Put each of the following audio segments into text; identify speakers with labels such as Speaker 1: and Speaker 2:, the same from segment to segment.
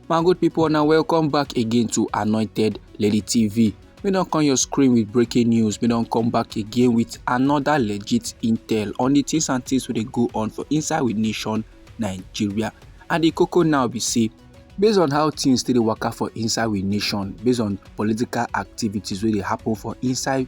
Speaker 1: my good people now welcome back again to anointed lady tv we don't come your screen with breaking news we don't come back again with another legit intel on the things and things we go on for inside with nation nigeria and the cocoa now we see based on how things still work out for inside with nation based on political activities really happen for inside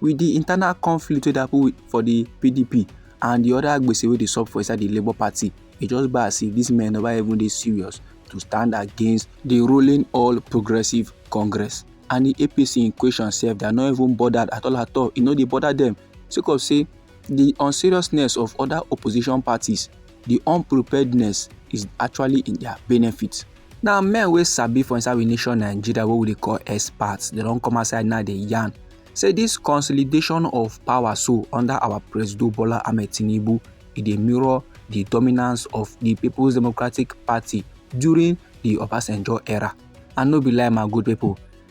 Speaker 1: with di internal conflict wey dey happen for di pdp and di oda gbese wey dey sup for inside di labour party e just be as if dis men never even dey serious to stand against di ruling all progressive congress and di apc in question sef dia no even bothered at all at all e no dey bother dem sake of say di unseriousness of oda opposition parties di unpreparedness is actually in dia benefit. Now men wey sabi for inside we nation Nigeria wey we dey call experts they don't come outside now dey yarn say this consolidation of power so under our President Bola Ahmed Tinubu e dey mirror the dominance of the People's Democratic Party during the Obasanjo era and no be lie my good people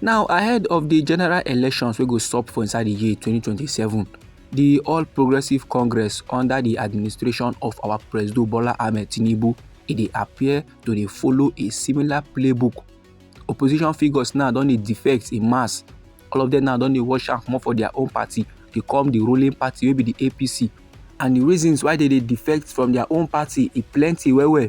Speaker 1: Now, ahead of the general elections wey go sup for inside the year 2027, the All Progressives Congress under the administration of our President Bola Ahmed Tinubu, e dey appear to dey follow a similar playbook. Opposition figures now don dey defect in mass. All of them now don dey wash am comot for their own party to come the ruling party wey be the APC. And the reasons why they dey defect from their own party e plenty well well.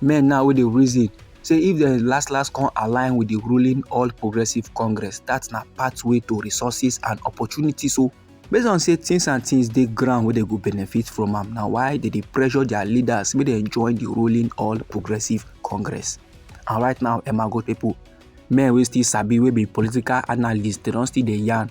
Speaker 1: men now wey dey reason say if dem last last come align with the ruling all progressive congress that na pathway to resources and opportunities So, based on say things and things dey ground wey dem go benefit from am na why dem dey pressure their leaders make dem join the ruling all progressive congress and right now emma go people men wey still sabi wey be political analyst dem don still dey yarn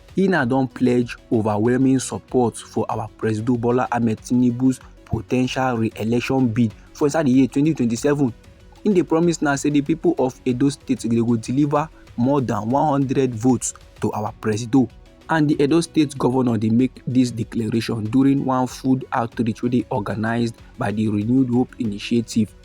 Speaker 1: E na don pledge overwhelming support for our Presido Bola Ahmed Tinubu's potential re-election bid for inside the year 2027. In the promise now say the people of Edo State they go deliver more than 100 votes to our Presido. And the Edo State governor they make this declaration during one food outreach wey dey organized by the Renewed Hope Initiative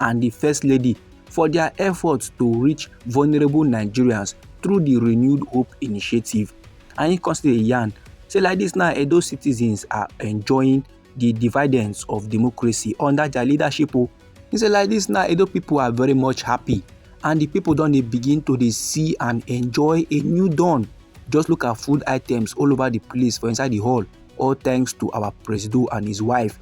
Speaker 1: and di First Lady for dia efforts to reach vulnerable Nigerians through di Renewed Hope initiative. And im come still dey yarn say like dis now Edo citizens are enjoying di dividends of democracy under dia leadership o. Oh. He say like this now Edo people are very much happy and the people don dey begin to dey see and enjoy a new dawn. Just look at food items all over the place for inside the hall all thanks to our presido and his wife.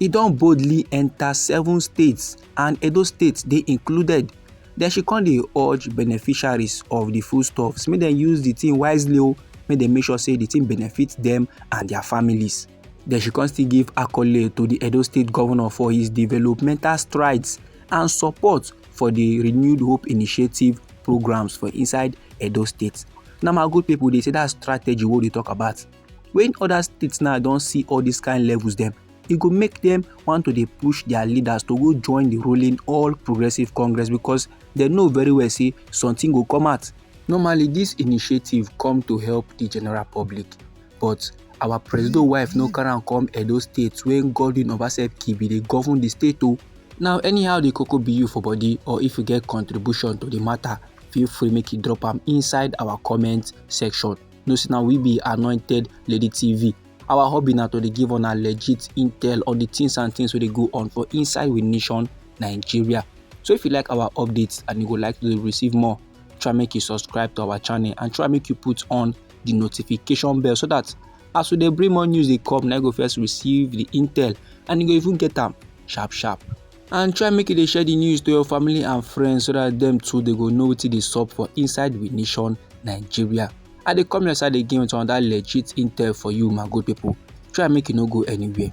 Speaker 1: E don boldly enta seven states and Edo State dey included. Then she come dey urge beneficiaries of the foodstuffs make dem use the thing wisely o, oh, make dem make sure say the thing benefit them and their families. Then she come still give accolade to the Edo State governor for his developmental strides and support for the Renewed Hope Initiative programs for inside Edo State. Now my good people, they say that strategy what they talk about. when other states now don see all these kind levels dem e go make dem want to dey push their leaders to go join the ruling all progressive congress because dem know very well say something go come out normally this initiative come to help the general public but our president wife no carry am come edo state when godwin obaseki bin dey govern the state o now anyhow the koko be you for body or if you get contribution to the matter feel free make you drop am inside our comment section know say na we be anointed lady tv our hobby na to dey give una legit intel on the things and things wey dey go on for inside we nation nigeria so if you like our updates and you go like to receive more try make you subscribe to our channel and try make you put on the notification bell so that as we dey bring more news dey come na you go first receive the intel and you go even get am sharp sharp and try make you dey share the news to your family and friends so that them too they go know wetin dey sup for inside we nation nigeria i dey come your side again with another legit intel for you my good people try make you no go anywhere.